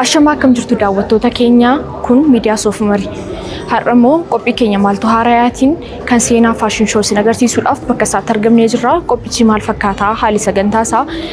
Ashamaa akkam jirtu daawwattoota keenya kun miidiyaa soofumari. Har'a immoo qophii keenya maaltu haarayaatiin kan seenaa faashin shoo isin agarsiisuudhaaf bakka isaatti argamnee jirra. Qophichi maal fakkaataa haali sagantaa isaa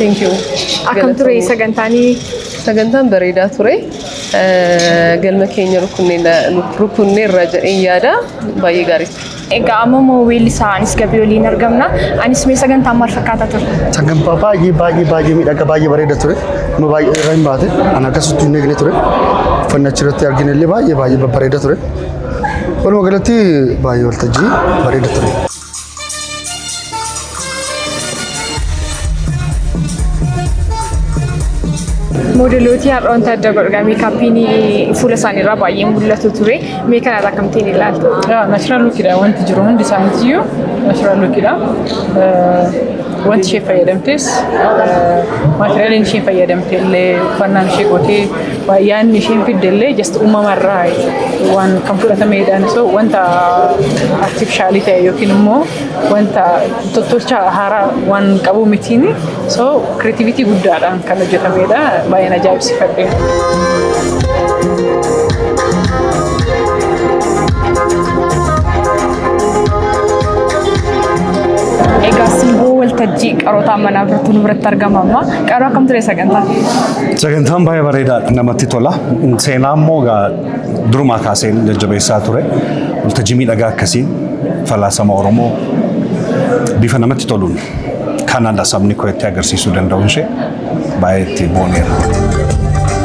Thank you. Akkam ture Galatoomii. sagantaanii? Sagantaan bareedaa ture. Eh, Galma keenya rukunnee irra jedheen yaada. Baay'ee gaarii ture. Egaa amma immoo weellisaa anis gabii waliin argamna. Anis mee sagantaan maal fakkaata ture? Sagantaa baay'ee baay'ee baay'ee miidhagaa baay'ee bareeda ture. Nama baay'ee irra hin baate. Kan akkasitti hin eegne ture. Uffannaa achirratti argine illee baay'ee baay'ee babbareeda ture. Walumaa galatti baay'ee waltajjii bareeda ture. Moodelooti har'a wanta adda godhudha. Meekaappiin fuula isaaniirraa baay'ee mul'atu ture. Mee kanarraa akkamittiin ilaaltu? Naashinaal luukidha wanti jiru hundi isaaniitiyyuu naashinaal luukidha. Wanti ishee fayyadamtes maatiriyaalii ishee fayyadamte illee uffannaan ishee gootee Baay'aan isheen fidde illee just uumama irraa waan kan fudhatameedhaan so wanta artifishaalii ta'e yookiin immoo wanta tottolcha haaraa waan qabu mitiin so kireetivitii guddaadhaan kan hojjetameedha baay'een ajaa'ibsiifadhe. Egaa simboo waltajjii qarootaa manaa birtuu nu biratti argama amma qaroo akkam ture sagantaa? Sagantaan baay'ee bareedaadha namatti tola. Seenaa immoo egaa durumaa kaasee jajjabeessaa ture. Waltajjii miidhagaa akkasii falaasama Oromoo bifa namatti toluun kanadha sabni koo itti agarsiisuu danda'uun ishee baay'ee itti booneera.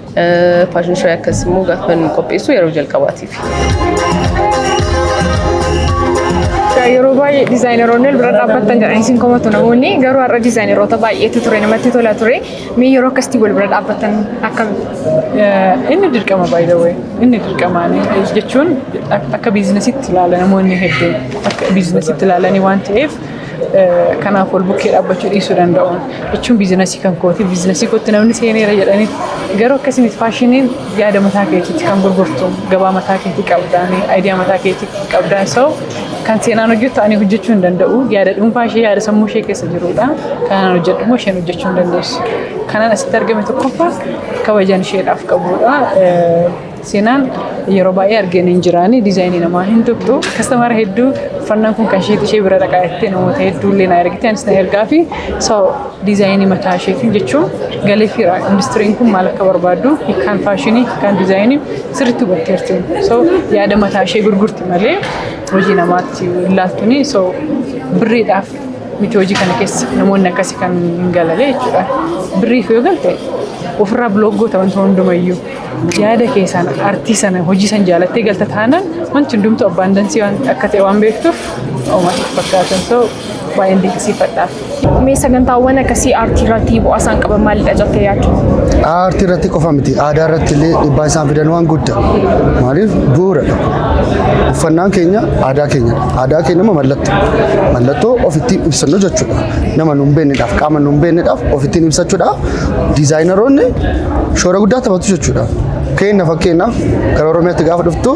Faashin shoo'ii akkas immoo gaafa nu qopheessu yeroo jalqabaatiif. Yeroo baay'ee dizaayineroonni wal bira dhaabbattan jedhan isin komatu namoonni garuu har'a dizaayineroota baay'eetu ture namatti tola ture mee yeroo akkasitti wal bira dhaabbattan akkam Inni dirqama by the way. Inni dirqama jechuun akka biizinasitti ilaala namoonni hedduun akka biizinasitti ilaalanii waan ta'eef Kanaaf wal bukkee dhaabbachuu dhiisuu danda'uun jechuun biizinasii kan kooti biizinasii kootti namni seeneera jedhanii garuu akkasii miti faashiniin yaada mataa keetiitti kan gurgurtu gabaa mataa keetii qabdaan ayidiyaa mataa keetii qabdaan soo kan seenaan hojjettu ani hojjechuu hin danda'u yaada dhuunfaa ishee yaada sammuu ishee keessa jirudha kanaan hojjedhu immoo isheen hojjechuu hin dandeessu kanaan asitti argame tokkoffaa kabajaan isheedhaaf qabudha Seenaan yeroo baay'ee argeen hin jiraani diizaayinii namaa hin tuqxu kastamara hedduu uffannaan kun kan isheeti ishee bira dhaqaa jettee namoota hedduu illee na ergite anis na ergaa fi so diizaayinii mataa isheetiin jechuun galee fiira industiriin kun maal akka barbaaddu hiikaan faashinii hiikaan diizaayinii sirriitti hubatteerti so yaada mataa ishee gurgurti malee hojii namaatti hin laattuni so birriidhaaf miti hojii kana keessa namoonni akkasii kan hin galalee jechuudha birriif yoo galte ofirraa bilook goota wanta hundumayyuu. Yaada keessaan artii sana hojii san jaalattee galta taanaan wanti hundumtu abbaan dansii waan akka ta'e waan beektuuf uumaa fakkaatan ta'u baay'een dinqisiifadhaaf. Mee sagantaawwan akkasii aartii irratti bu'aa isaan qaban maalidha jettee yaaddu? Aartii irratti qofa miti aadaa irratti illee dhibbaa isaan fidan waan guddaa maaliif bu'uuradha. Uffannaan keenya aadaa keenya aadaa keenya immoo mallattoo mallattoo ofitti ibsannu jechuudha. Nama nu hin beeknedhaaf qaama nu hin beeknedhaaf ofitti ibsachuudha. Diizaayinaroonni shoora guddaa taphatu jechuudha. Keenna fakkeenyaaf gara Oromiyaatti gaafa dhuftu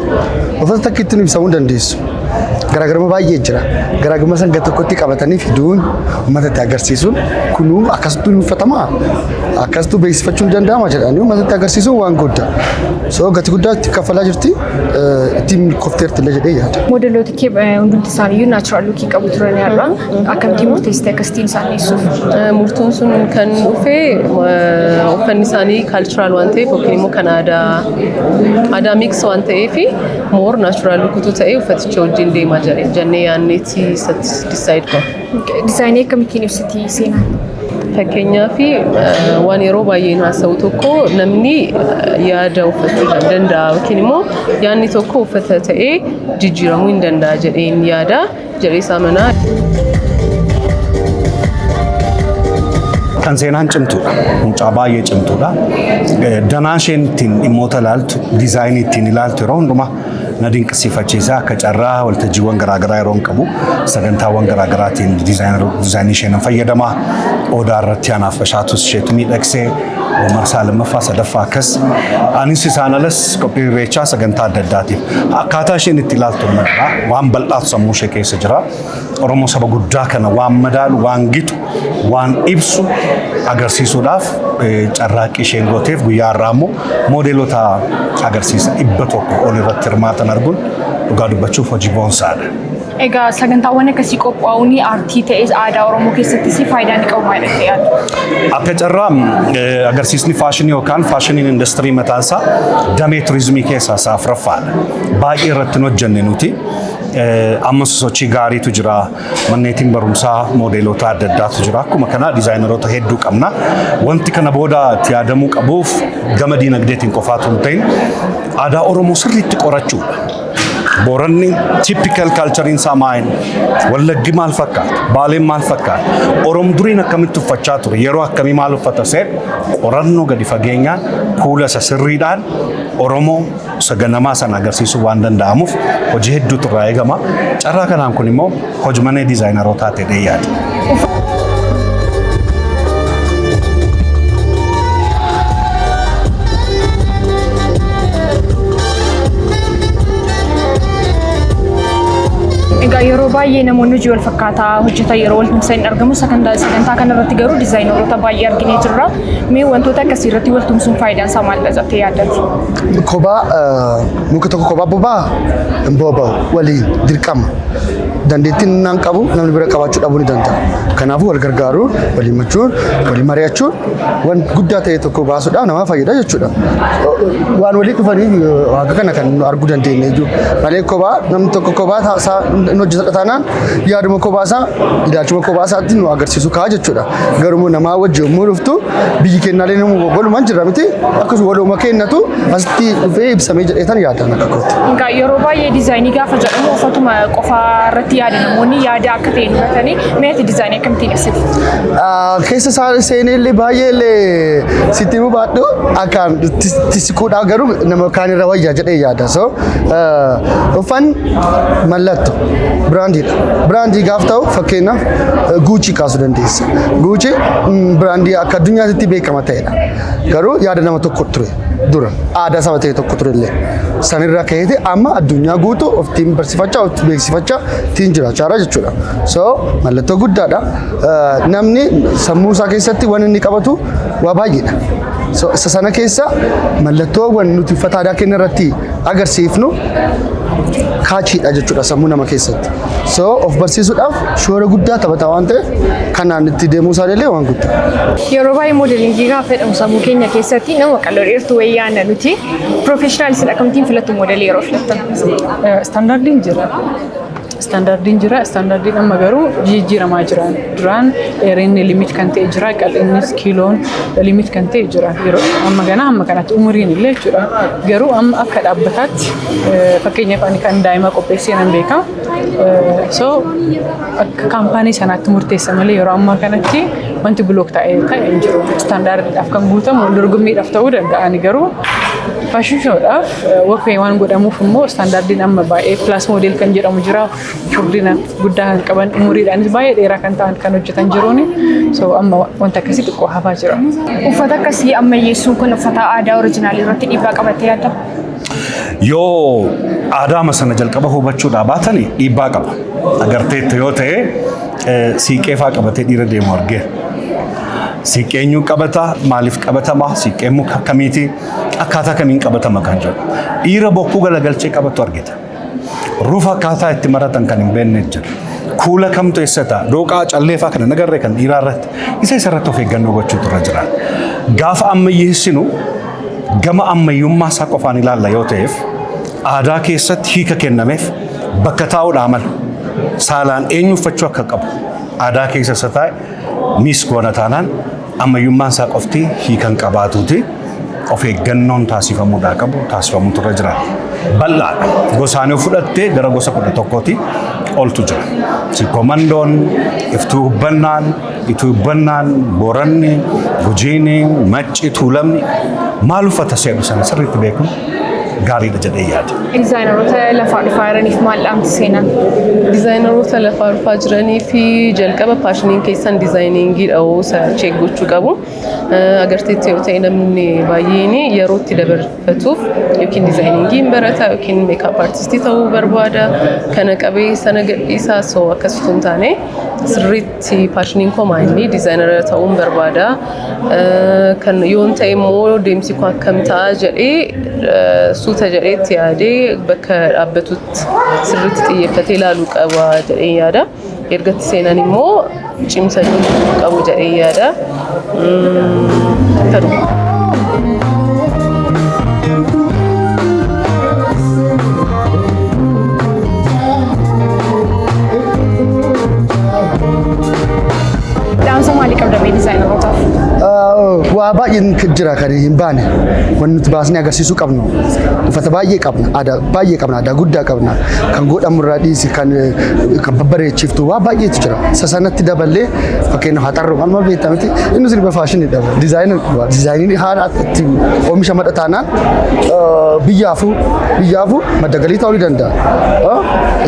uffata takka ittiin ibsamuu dandeessu. Garaagarummaa baay'ee jira. Garaagarummaa san gara tokkotti qabatanii fiduun uummata itti agarsiisuun kunuu akkasittuu ni uffatama akkasittuu beeksifachuu ni danda'ama jedhanii uummata itti agarsiisuun waan guddaa. So gati guddaa itti kaffalaa jirti ittiin milkoofteerti illee jedhee yaada. Modeloota kee hundumti isaaniiyyuu naachuraal luukii qabu turan har'a. Akkamittiin murteessite akkasittiin isaan dhiyeessuuf? Murtoon sun kan dhufe uffanni isaanii kaalchiraal waan ta'eef yookiin immoo kan aadaa aadaa miiks waan ta'eef moor naachuraal rukutuu ta'ee uffaticha wajjin deemaa jira jennee yaanneeti isatti disaayid goona. Dizaayinii akkamittiin ibsiti seenaan? Fakkeenyaaf waan yeroo baay'een haasa'u tokko namni yaada uffachuu kan danda'a yookiin immoo yaadni tokko uffata ta'ee jijjiiramuu hin danda'a jedheen yaada. Jireessaa manaa. Kan seenaan cimtuudha. Mucaa baay'ee cimtuudha. Danaa isheen ittiin dhimmoota ilaaltu, diizaayinii ittiin ilaaltu yeroo hundumaa na dinqisiifachiisa. Akka carraa waltajjiiwwan garaagaraa yeroo hin qabu sagantaawwan garaagaraatiin diizaayinii isheen fayyadama. Odaa irratti anaaf bashaatus isheetu miidhagsee marsaa lammaffaa sadaffaa akkas anis isaan alas qophii irreechaa sagantaa adda addaatiif akkaataa isheen itti ilaaltu madda waan bal'aatu sammuu ishee keessa jira oromoo saba guddaa kana waan madaalu waan gitu waan ibsu agarsiisuudhaaf eh, carraaqqii isheen gooteef guyyaa har'aa immoo moodeelota agarsiisa dhibba tokko ol irratti hirmaatan arguun dhugaa dubbachuuf hojii boonsaadha. Egaa sagantaawwan akkasii qophaa'uun aartii ta'es aadaa Oromoo keessattis faayidaa ni qabu maal jettee yaadda? Akka carraa eh, agarsiisni faashinii yookaan faashiniin industirii mataan isaa damee turizimii keessaa isaa afuraffaadha. Baay'ee irratti hin hojjenne nuti. Eh, Ammas sochii gaariitu jira. Manneetiin barumsaa moodeelota adda addaatu jira. Akkuma kana dizaayineroota hedduu qabna. Wanti kana booda itti yaadamuu qabuuf gama diinagdeetiin qofaatu hin ta'in aadaa Oromoo sirriitti qorachuudha. Booranni typical culture isaa maal? Wallaggi maal fakkaata? Baaleen maal fakkaata? Oromoo duriin akkamitti uffachaa ture? Yeroo akkamii maal uffata seet qorannoo gadi fageenyaan kuula isa sirriidhaan Oromoo isa ganamaa sana agarsiisuu waan danda'amuuf hojii hedduutu irraa eegama. Carraa kanaan kun immoo Hojmanee dizaayinarootaa jedhee yaada. Egaa yeroo baay'ee namoonni hojii wal fakkaataa hojjetan yeroo wal tumsan hin argamu. Sagantaa sagantaa kana irratti garuu dizaayinaroota baay'ee arginee jirra. Mee wantoota akkasii irratti wal tumsuun faayidaan isaa maalidha jettee yaadda? Kophaa eh, muka tokko kophaa bobaa hin boba'u waliin dirqama. dandeettiin innaan qabu namni bira qabaachuu dhabuu ni danda'a. Kanaafuu wal gargaaruu, wal himachuun, wal mari'achuun waan guddaa ta'e tokko baasuudhaan nama fayyada jechuudha. Waan walii dhufanii waaqa kana kan nu arguu dandeenye iyyuu malee kophaa namni tokko kophaa isaa hin hojjetadha taanaan yaaduma kophaa isaa ilaalchuma kophaa isaatti nu agarsiisu ka'a jechuudha. Garuu namaa wajji yommuu dhuftu biyyi kennaalee nama walumaan jira miti akkasuma waluma kennatu asitti dhufee ibsamee jedheetan yaadaan akka kootti. Egaa yeroo baay'ee diizaayinii gaafa jedhamu uffatuma qofaa irratti yaada namoonni yaada akka ta'e hubatanii mee ati diizaayinii akkamittiin ibsitu? Ah, Keessa isaa seenee illee baay'ee illee sitti himuu baadhu akkaan tis- tisiquudhaa garuu nama kaan irra wayyaa jedhee yaada. So Uffan mallatto biraandiidha. Biraandii gaaf ta'u fakkeenyaaf guuchii kaasuu dandeessa. Guuchii biraandii akka addunyaatti beekama ta'edha. Garuu yaada nama tokko ture dura aadaa saba ta'e tokko ture illee sanirraa ka'eeti amma addunyaa guutuu oftiin barsiifachaa oftiin beeksifachaa ittiin jiraachaa jira jechuudha. So mallattoo guddaadha. namni sammuu isaa keessatti waan inni qabatu waa baay'eedha. So- Isa sana keessa mallattoowwan nuti uffata aadaa keenya irratti agarsiifnu kaachiidha jechuudha sammuu nama keessatti. So of barsiisuudhaaf shoora guddaa taphata waan ta'eef kanaan itti deemuu isaa illee waan guddaa. Yeroo baay'ee moodelingii gaafa jedhamu sammuu keenya keessatti nama qal'oo dheertuu wayii yaadna nuti. Piroofeeshinaalistiin akkamittiin filattu moodelii yeroo filattan? Standardiin jira. Istaandaardiin jira. Istaandaardiin amma garuu jijjiiramaa jira. Duraan dheerinni limit kan ta'e jira. Qal'innis kiiloon limit kan ta'e jira. Yeroo amma ganaa amma kanatti umuriin illee jechuudha. Garuu amma akka dhaabbataatti eh, fakkeenyaaf ani kan daa'ima qopheessee nan beeka. Eh, So akka kaampaanii sanaatti murteessa malee yeroo ammaa kanatti wanti bilook ta'e ta'e hin jiru. Istaandaardiidhaaf kan guutamu dorgommiidhaaf ta'uu danda'a. Ani garuu faashinii shoodhaaf Walkway waan godhamuuf immoo istaandaardiin amma baay'ee pilaas moodeel kan jedhamu jira. Furdina guddaa kan qaban umuriidhaanis baay'ee dheeraa kan ta'an kan hojjetan jiruuni. So amma wanta akkasii xiqqoo hafaa jira. Uffata akkasii ammayyeessuu kun uffata aadaa orijinaalii irratti dhiibbaa qabatee yaadda? Yoo aadaama sana jalqaba hubachuudhaa baatan dhiibbaa qaba. Agarteetta yoo ta'e siiqqee faa qabatee dhiira deemu argee. Siiqqee eenyuun qabata? Maaliif qabatama? Siiqqeen muka akkamiiti? akkaataa kamiin qabatama kan jedhu dhiira bokkuu galagalchee qabatu argita. Rufa akkaataa itti maratan kan hin beekne jira. Kuula kamtu eessa ta'a? Dooqaa calleefaa kana nagarree kan dhiiraa irratti isa isa irratti of eeggannoo gochuutu irra jira. Gaafa ammayyeessinu gama ammayyummaa isaa qofaan ilaalla yoo ta'eef aadaa keessatti hiika kennameef bakka taa'uudhaa mala. Saalaan eenyu uffachuu akka qabu aadaa keessa isa taa'e miis goona taanaan Ammayyummaan isaa qofti hiika hin qabaatuuti. Of eeggannoon taasifamuudhaa qabu taasifamuutu irra jira. Bal'aadha. Gosaan yoo fudhatte gara gosa kudha tokkooti oltu jira. Sikomandoon, iftuu hubbannaan, ituu hubbannaan, booranni, gujiini, macci, tuulamni maal uffata seenu sana sirriitti beekuun gaariidha jedhee yaada. Dizaayinaroota lafaa dhufaa jiraniif maal dhaamti seenaan? Dizaayinaroota lafaa dhufaa jiranii fi jalqaba paashiniin keessan dizaayiniingiidha oo isa cheek gochuu qabu. Agarteetti yoo ta'e namni baay'een yeroo itti dabarfatuuf yookiin dizaayiniingii hin barata yookiin meekaap artistii ta'uu barbaada. Kana qabee sana gadhiisaa soo akkasitu hin taane sirriitti Si paashiniin koo maayinni diizaayinara ta'uun barbaada. Kan yoon ta'e immoo deemsi koo akkam ta'a jedhee suuta jedhee itti yaadee bakka dhaabbatutti sirriitti xiyyeeffatee ilaaluu qaba jedhee yaada. Erga itti seenan immoo cimsachuu qabu jedhee yaada. Dhaamsa maalii qabda mee dizaayinarotaaf? Waa baay'een jira kan hin baane wanti nuti baasnee agarsiisuu qabnu uffata baay'ee qabna aadaa baay'ee qabna aadaa guddaa qabna kan godhamu irraa dhiisi kan kan babbareechiftu waa baay'eetu jira isa sanatti daballee Fakkeenyaaf haxarroo amma beektaa miti inni sirba faashinii dha. Dizaayinii qaba. Dizaayinii haala itti oomisha madda taanaan biyyaafuu biyyaafuu madda galii ta'uu ni danda'a.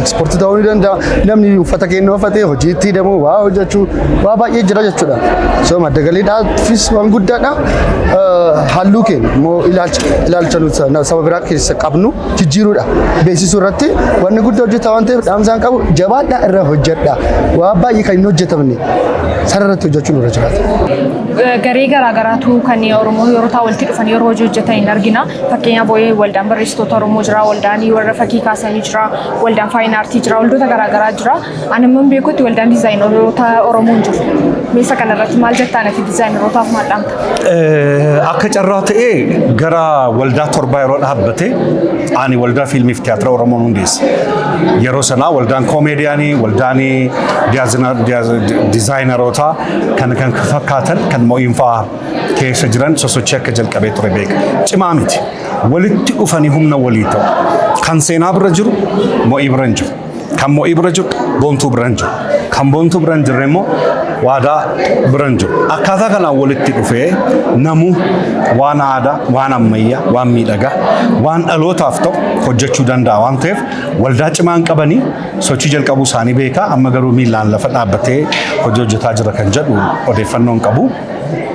Ekspoortii ta'uu ni danda'a. Namni uffata keenya uffatee hojii itti hidhamu waa hojjechuu waa baay'ee jira jechuudha. So madda galiidhaafis waan guddaadha. Halluu keenya immoo ilaalcha ilaalcha nuti saba biraa keessa qabnu jijjiiruudha. Beeksisuu irratti wanni guddaa hojjetaa waan ta'eef dhaamsaan qabu jabaadhaa irra hojjedha. Waa baay'ee kan hin hojjetamne sana irratti hojjechuun irra jiraata. Garee garaagaraatu kan Oromoo yeroo ta'u walitti dhufanii yeroo hojii hojjetan hin argina. Fakkeenyaaf boo'ee waldaan barreessitoota Oromoo jira, waldaan warra fakkii kaasanii jira, waldaan faayina aartii jira, waldoota garaagaraa jira. Ani immoo beekutti waldaan diizaayinaroota Oromoo hin jiru. Meeshaa kanarratti maal jettaan ati diizaayinarootaaf maal dhaamta? Eh, Akka carraa ta'ee gara waldaa torbaa yeroo dhaabbate ani waldaa fiilmii fi tiyaatira Oromoon hundeesse. Yeroo sanaa waldaan koomeediyaanii, waldaan diyaazina- diyaaz- diizaayinarootaa kan kan fakkaatan kan mo'iinfaa keessa jiran sosochii akka jalqabee ture beeka. Cimaa miti. Walitti dhufanii humna walii ta'u. Kan seenaa bira jiru mo'ii bira hin jiru. Kan mo'ii bira jiru boontuu bira hin jiru. Kan boontuu bira hin jirre immoo waadaa bira hin jiru. Akkaataa kanaan walitti dhufee namuu waan aadaa, waan ammayyaa, waan miidhagaa, waan dhalootaaf ta'u hojjechuu danda'a waan ta'eef waldaa cimaan qabanii sochii jalqabuu isaanii beekaa amma garuu miilaan lafa dhaabbatee hojii hojjetaa jira kan jedhu odeeffannoon qabu.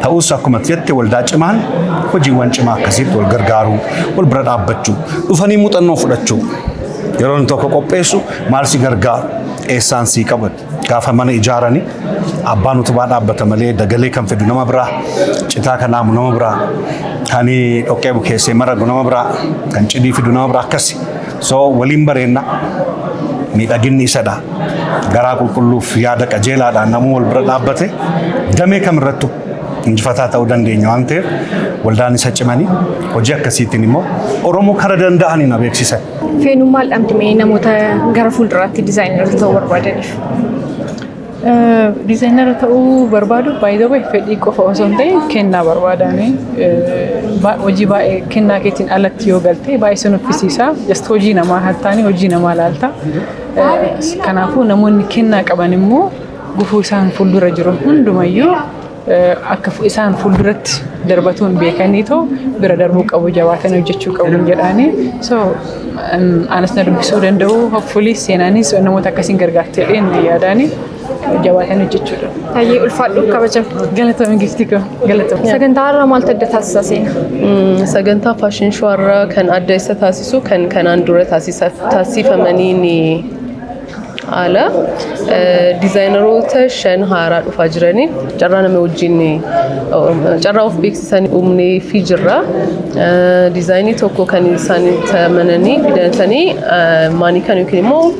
Ta'us akkuma jette waldaa cimaan hojiiwwan cimaa akkasiitti wal gargaaruu, wal bira dhaabbachuu, dhufanii muuxannoo fudhachuu Yeroo inni tokko qopheessu maal si gargaaru eessaan sii qaban gaafa mana ijaarani abbaan utubaa dhaabbata malee dagalee kan fidu nama biraa citaa kan haamu nama biraa kan dhoqqee bukeessee maragu nama biraa kan cidii fidu nama biraa akkasi so waliin bareenna miidhaginni isadha garaa qulqulluuf yaada qajeelaadhaan namuu wal bira dhaabbate damee kamirrattu injifataa ta'uu dandeenya waan ta'eef waldaan isa cimanii hojii akkasiitiin immoo Oromoo kara danda'anii na beeksisan. Feenuun maal dhamti mee namoota gara fuulduraatti dizaayinara ta'uu barbaadaniif? Dizaayinara ta'uu barbaadu baay'ee fedhii qofa osoo hin ta'in kennaa barbaadaani. Hojii baay'ee kennaa keetiin alatti yoo galte baay'ee si nuffisiisa. Just hojii namaa hattaanii hojii namaa laalta. Kanaafuu namoonni kennaa qaban immoo Gufuu isaan fuuldura jiru hundumayyuu akka isaan fuulduratti darbatuun beekanii too bira darbuu qabu jabaatanii hojjechuu qabu jedhaanii so anas na dubbisuu danda'u hopfulii seenaanis namoota akkasiin gargaartee dheen yaadaanii jabaatanii hojjechuu qabu. Hayyee ulfaadhu kabaja. Galatoomi giftii koo galatoomi. Sagantaa har'a maaltu adda taasisaa seena? Sagantaa faashin shoo har'a kan adda isa taasisu kan kanaan dura taasifamaniin haala diizaayineroota shan haaraa dhufaa jiraniif carraa nama wajjin carraa of beeksisan uumnee fi jirra. Diizaayinii tokko kan isaan tamananii fidatanii maanikan yookiin immoo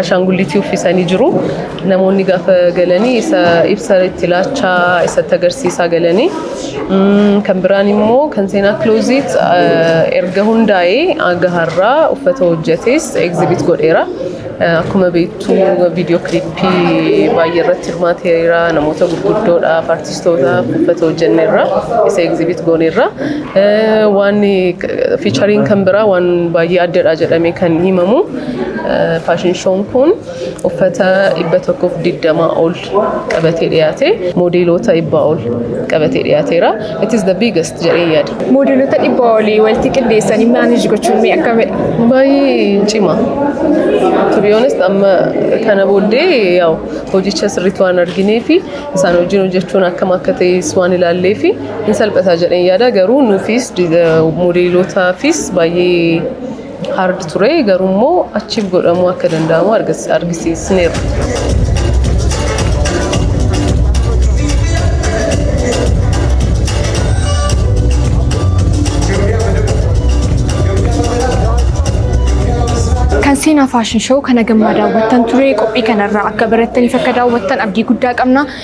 ashaangullitii uffisanii jiru. Namoonni gaafa galanii isa ibsa itti laachaa isatti agarsiisaa galanii Kan biraan immoo kan seenaa Closet erga hundaa'ee hanga har'aa uffata hojjetes exhibit godheera. Akkuma beektu viidiyoo kilippii baay'ee irratti hirmaateera. Namoota gurguddoodhaaf, artistootaaf uffata hojjenneerra. Isa exhibit gooneerra. Waan fiichariin kan biraa waan baay'ee addadha jedhamee kan himamu faashin shoon kun uffata 120 ol qabatee dhiyaate moodeeloota dhibbaa ol qabatee dhiyaateera. It is the biggest jedhee yaada. Moodeelota dhibba olii walitti qindeessanii maanage gochuun mee akkamidha? Baay'ee cima. To be honest amma kana booddee yaa'u hojicha sirriitti waan arginee fi isaan wajjin hojjechuun akkam akka ta'es waan ilaallee fi hin salphataa jedheen yaada garuu nuufis moodeelotaafis baay'ee hard ture garuu immoo achiif godhamuu akka danda'amu argis- argisiisneerra. Kan seenaa faashin shoo kana gammaa daawwattan ture qophii kanarraa akka barattaniif akka daawwattan abdii guddaa qabna.